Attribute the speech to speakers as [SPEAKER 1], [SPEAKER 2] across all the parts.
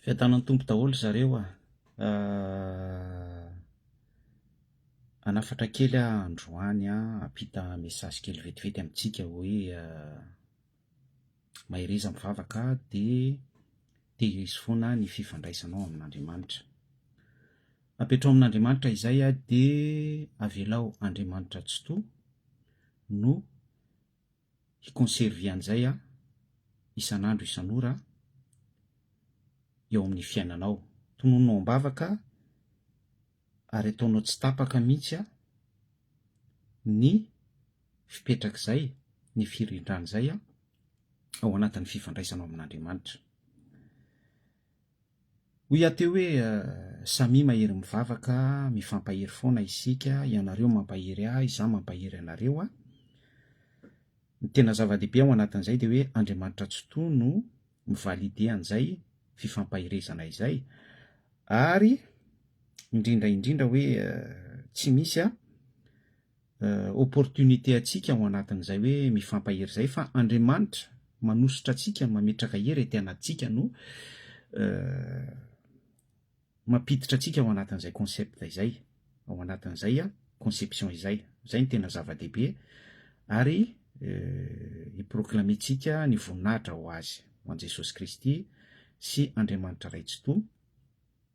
[SPEAKER 1] Fiadanan'ny Tompo daholo zareo a! hanafatra kely aho androany a, hampita message kely vetivety amintsika hoe mahereza mivavaka dia tehirizo foana ny fifandraisanao amin'Andriamanitra. Apetraho amin'Andriamanitra izay a, dia avelao Andriamanitra Tsitoha no hi-conserver an'izay aho isan'andro isan'ora eo amin'ny fiainanao. Tonononao am-bavaka ary ataonao tsy tapaka mihitsy ny fipetrak'izay, ny firindran'izay ao anatin'ny fifandraisanao amin'Andriamanitra. Hoy aho teo hoe, Samia mahery mivavaka, mifampahery foana isika, ianareo mampahery ahy, izaho mampahery anareo a. Ny tena zava-dehibe ao anatin'izay dia hoe Andriamanitra Tsitoha no mi-valider an'izay fifampaherezana izay, ary indrindra indrindra hoe tsy misy a, opportunité antsika ao anatin'izay hoe mifampahery izay fa Andriamanitra manosotra antsika mametraka hery ety anatintsika no mampiditra antsika ao anatin'izay concept izay ao anatin'izay a conception izay izay ny tena zava-dehibe ary hiproclamer-tsika ny voninahitra ho azy ho an'i Jesosy Kristy sy Andriamanitra Ray Tsitoha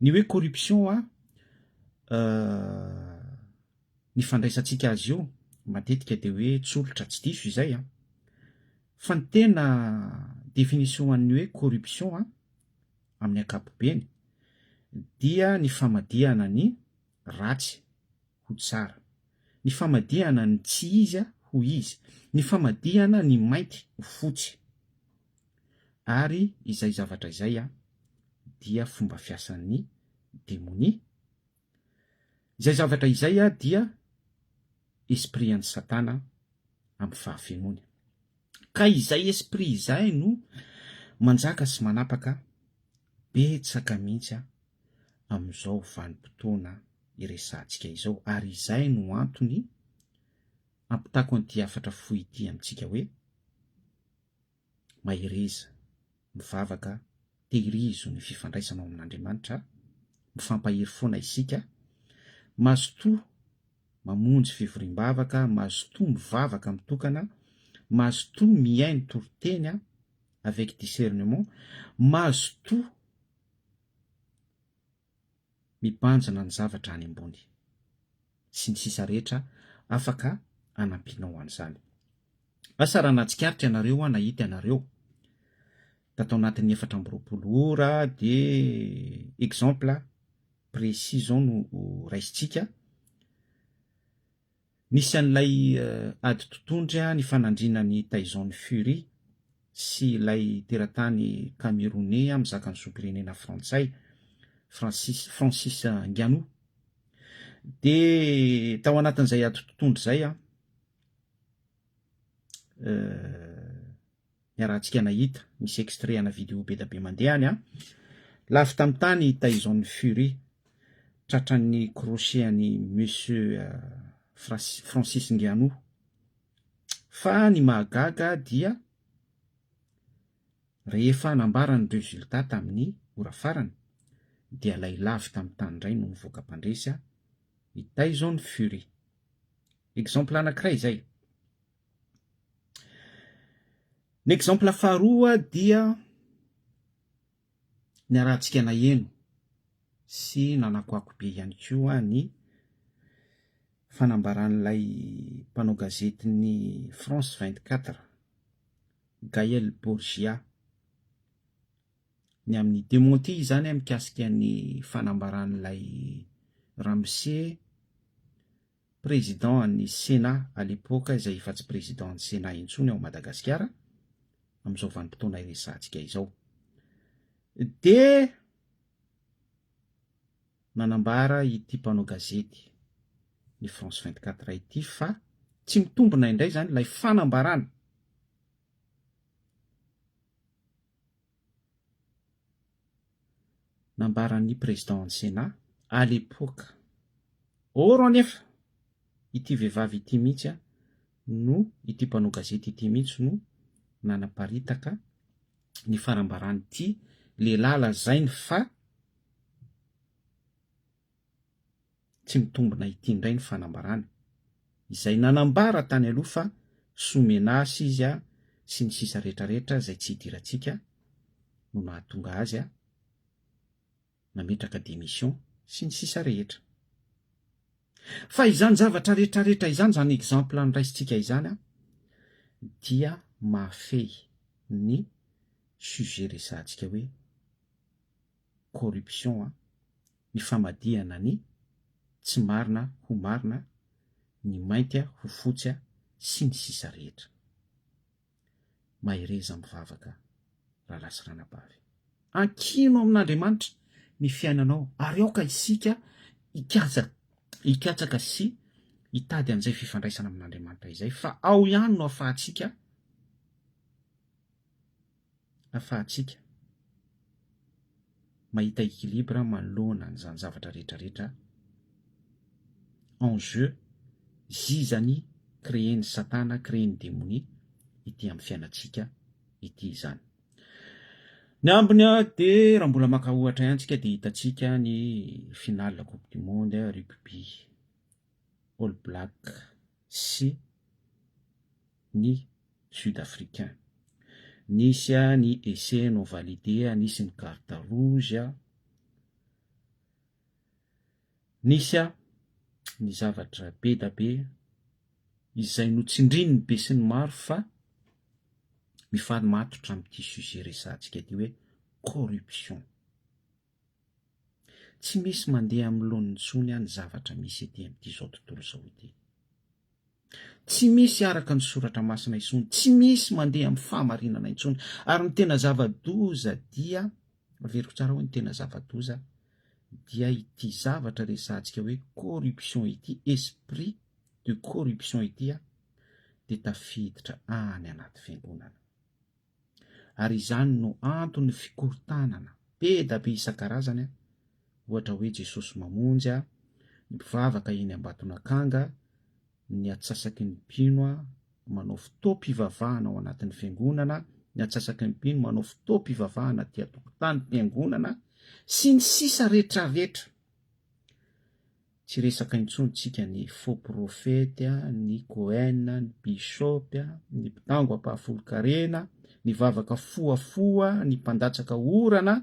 [SPEAKER 1] Ny hoe corruption a ny fandraisantsika azy io matetika dia hoe tsolotra tsy diso izay a! Fa ny tena définition an'ny hoe corruption a amin'ny ankapobeny dia ny famadihana ny ratsy ho tsara, ny famadihana ny tsy izy ho izy, ny famadihana ny mainty ho fotsy, ary izay zavatra izay dia fomba fiasan'ny demonia, izay zavatra izay dia esprit an'i Satana amin'ny fahafenoany. Ka izay esprit izay no manjaka sy manapaka betsaka mihitsy amin'izao vanim-potoana iresahantsika izao ary izay no antony ampitako an'ity hafatra fohy ity amintsika hoe, Mahereza mivavaka, tehirizo ny fifandraisana ao amin'Andriamanitra, mifampahery foana isika, mazotoa mamonjy fivoriam-bavaka, mazotoa mivavaka mitokana, mazotoa mihaino toriteny avec discernement, mazotoa mibanjina ny zavatra any ambony, sy ny sisa rehetra afaka hanampianao an'izany. Asa raha nahatsikaritra ianareo hoa nahita ianareo fa tao anatin'ny efatra amby roapolo ora dia exemple précis izao no raisintsika, Nisy an'ilay ady totondry nifanandrina an'i Tyson Fury sy ilay teratany Kameroney mizaka ny zom-pirenena frantsay, Francis Francis Ngannou. Dia tao anatin'izay ady totondry izay an, euh. ny arahantsika nahita misy extrait ana vidéo bedabe mandeha any an! Lavo tamin'ny tany i Tyson Fury tratran'ny crochet an'i Monsieur Francis Ngannou. Fa ny mahagaga dia rehefa nambara ny résultat tamin'ny ora farany dia ilay lavo tamin'ny tany indray no nivoaka mpandresy an! I Tyson Fury. Exemple anankiray izay. Ny exemple faharoa dia niarahantsika naheno sy nanakoako be ihany koa ny fanambaran'ilay mpanao gazetin'ny France vingt quatre Gaël Borgia ny amin'ny dementi izany mikasika ny fanambaran'ilay ramose président an'ny Sénat à l'époque izay efa tsy président an'ny Sénat intsony ao Madagasikara amin'izao vanim-potoana iresahantsika izao dia nanambara ity mpanao gazety ny France 24 ity fa tsy mitombina indray izany ilay fanambarana Nambaran'ny Président ny Sénat à l'époque. Or anefa ity vehivavy ity mihitsy no, ity mpanao gazety ity mihitsy no nanaparitaka ny farambaran'ity lehilahy lazainy fa, Tsy mitombina ity indray ny fanambarana, izay nanambara tany aloha fa soa menace izy a sy ny sisa rehetra rehetra izay tsy idirantsika no nahatonga azy a nametraka démission sy ny sisa rehetra. Fa izany zavatra rehetra rehetra izany, izany exemple noraisintsika izany a dia mahafehy ny sujet resahantsika hoe, corruption a, ny famadihana ny tsy marina ho marina, ny mainty a ho fotsy a sy ny sisa rehetra. Mahereza mivavaka Rahalahy sy Ranabavy. Ankino amin'Andriamanitra ny fiainanao ary aoka isika hikatsaka hikatsaka sy hitady an'izay fifandraisana amin'Andriamanitra izay fa ao ihany no afahantsika afahantsika mahita equilibre manoloana an'izany zavatra rehetra rehetra en jeu zizany créer-n'i satana, créer-n'i demonia ity amin'ny fiainantsika ity izany. Ny ambiny dia raha mbola maka ohatra ihany tsika dia hitantsika ny finale coupe du monde rugby. All Black sy ny Sud Africain. Nisy ny essai non validé, nisy ny carte rouge, nisy ny zavatra be da be izay notsindrin'ny be sy ny maro fa mifari-matotra amin'ity sujet resahantsika ity hoe corruption. Tsy misy mandeha amin'ny laoniny intsony aho ny zavatra misy ety amin'ity izao tontolo izao ity. Tsy misy araka ny soratra masina intsony, tsy misy mandeha amin'ny fahamarinana intsony, ary ny tena zava-doza dia, averiko tsara hoe ny tena zava-doza dia ity zavatra resahantsika hoe corruption ity, esprit de corruption ity dia tafiditra any anaty fiangonana. ary izany no anton'ny fikorontanana be da be isan-karazany a, ohatra hoe Jesosy Mamonjy a, ny mpivavaka eny Ambatonakanga, ny atsasaky ny mpino a, manao fotoam-pivavahana ao anatin'ny fiangonana, ny atsasaky ny mpino manao fotoam-pivavahana aty an-tokotanim-piangonana, sy ny sisa rehetrarehetra. Tsy resaka intsony tsika ny faux prophète, ny Cohen, ny bishop, ny mpitango ampahafolon-karena, ny vavaka fohafoha, ny mpandatsaka orana,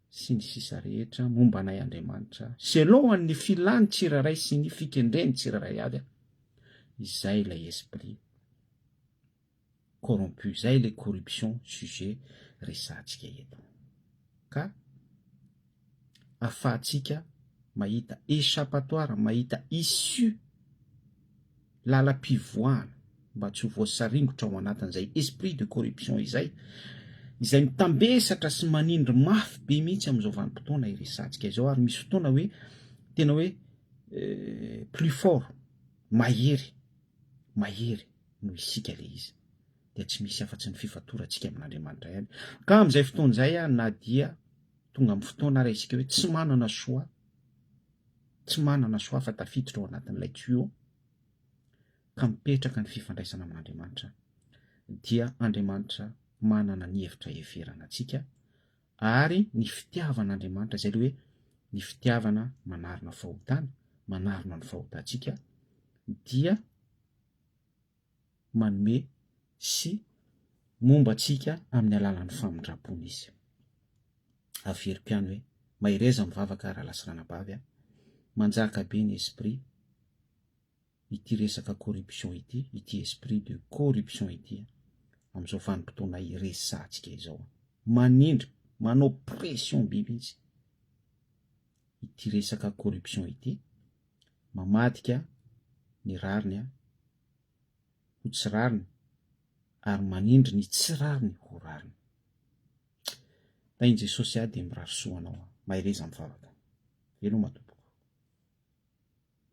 [SPEAKER 1] sy ny sisa rehetra momba anay Andriamanitra, selon an'ny filan'ny tsirairay sy ny fikendren'ny tsirairay avy an! Izay ilay esprit. corrompu zay le corruption sujet resahantsika eto ka afahantsika mahita echapatoire mahita issue lalampivoahana mba tsy ho voasaringotra ao anatin'izay esprit de corruption izay izay mitambesatra sy manindry mafy be mihitsy amin'izao vanim-potoana iresahantsika izao ary misy fotoana hoe tena hoe euh, plus fort mahery mahery noho isika ilay izy, dia tsy misy afa-tsy ny fifatorantsika amin'Andriamanitra ihany. Ka amin'izay fotoana izay, na dia tonga amin'ny fotoana ary isika hoe tsy manana choix, tsy manana choix fa tafiditra ao anatin'ilay tuyau, ka mipetraka ny fifandraisana amin'Andriamanitra, dia Andriamanitra manana ny hevitra heverana antsika, ary ny fitiavan'Andriamanitra izay ilay hoe ny fitiavana manarona fahotana, manarona ny fahotantsika, dia manome sy momba antsika amin'ny alalan'ny famindrampony izy. Averiko ihany hoe, mahereza mivavaka rahalahy sy ranabavy a! Manjaka be ny esprit ity resaka corruption ity, ity esprit de corruption ity amin'izao vanim-potoana iresahantsika izao. Manindry, manao pression be mihitsy. ity resaka corruption ity, mamadika ny rariny ho tsy rariny ary manindry ny tsy rariny ho rariny. Tahin'i Jesosy ahy dia mirary soa anao an! Mahereza mivavaka. Veloma Tompoko.